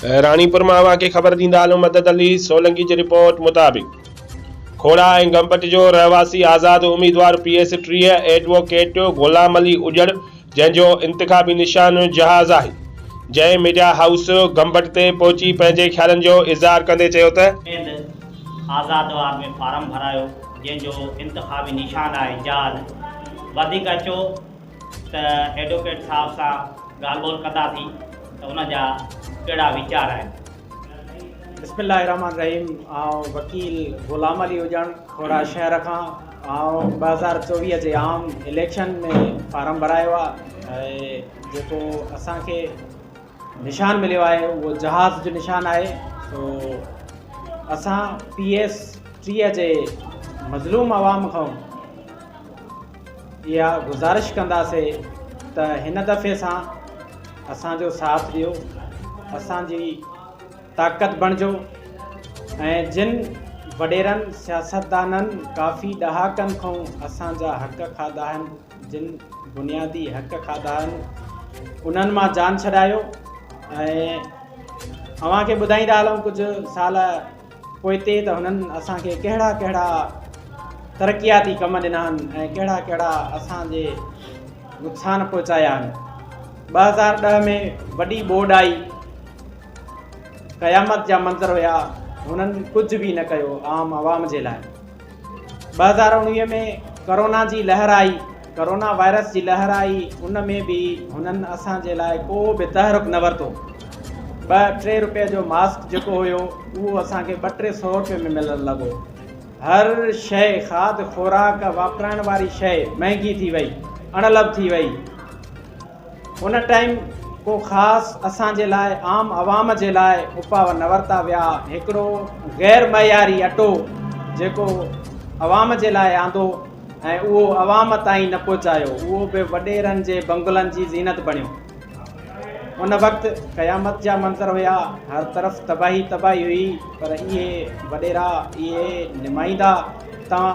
راڻيپور مان اوهان کي خبر ڏيندا هلون مدد علي سولنگي جي رپورٽ مطابق کوڙا ۽ گمپٽ جو رهواسي آزاد اميدوار پي ايس ٽيهه ايڊووڪيٽ غلام علي اڄڙ جنهن جو انتخابي نشان جهاز آهي جنهن ميڊيا هائوس گمبٽ تي پهچي پنهنجي خيالن جو اظهار ڪندي چيو ته. سنڌ آزاد وار ۾ فارم ڀرايو جنهن جو انتخابي نشان آهي جهاز وڌيڪ اچو. ته ايڊوڪيٽ صاحب سان ڳالهه ٻولهه ڪندا ٿي ته ان جا ڪهڙا ويچار آهن. بسم الله الرحمن الرحيم آئون وڪيل غلام علي هجڻ کهڙا شهر کان آئون ٻه هزار چوويهه جي عام اليڪشن ۾ فارم ڀرايو آ جيڪو اسان کي نشان مليو آهي اهو جهاز جو نشان آهي سو اسان پي ايس ٽيهه جي مظلوم عوام کان اها گذارش ڪنداسي ته هن دفعي سان اسان جو ساٿ ڏيو اسان جي طاقت بڻجو ۽ جن وڏيرن سياستدانن ڪافي ڏهاڪن کون اسان جا حق کاڌا آهن جن بنيادي حق کاڌا آهن انهن مان جان ڇڏايو ۽ اوهان کي ٻڌائيندا هلون ڪجهه سال پوئتي ته هنن اسان کي ڪهڙا ڪهڙا ترقياتي ڪم ڏنا آهن ۽ ڪهڙا ڪهڙا اسان جي نقصان پهچايا آهن ٻه هزار ڏهه ۾ وڏي ٻوڏ آئي قيامت جا منظر هيا هنن ڪجهه به نه ڪيو عام عوام جي لاء ٻه هزار اڻويهه ۾ ڪورونا جي لهر آئي، ڪورونا وائرس جي لهر آئي ان ۾ به هنن اسان جي لاء ڪو به تحرڪ نه ورتو. ٻه ٽي روپيه جو ماسڪ جيڪو هيو اهو اسان کي ٻه ٽي سئو روپيه ۾ ملڻ لڳو. هر شيء کاڌ خوراڪ واپرائڻ واري شيء مهنگي ٿي وئي، اڻلڀ ٿي وئي. ان ٽائيم ڪو خاص اسان جي لاء عام عوام جي لاء اپاء نه ورتا ويا هڪڙو غير معياري اٽو جيڪو عوام جي لاء آندو ۽ اهو عوام تائين نه پهچايو اهو به وڏيرن جي بنگلن جي زينت بڻيو ان وقت قيامت جا منظر هيا هر طرف تباهي تباهي هئي پر اهي وڏيرا اهي نمائيندا توهان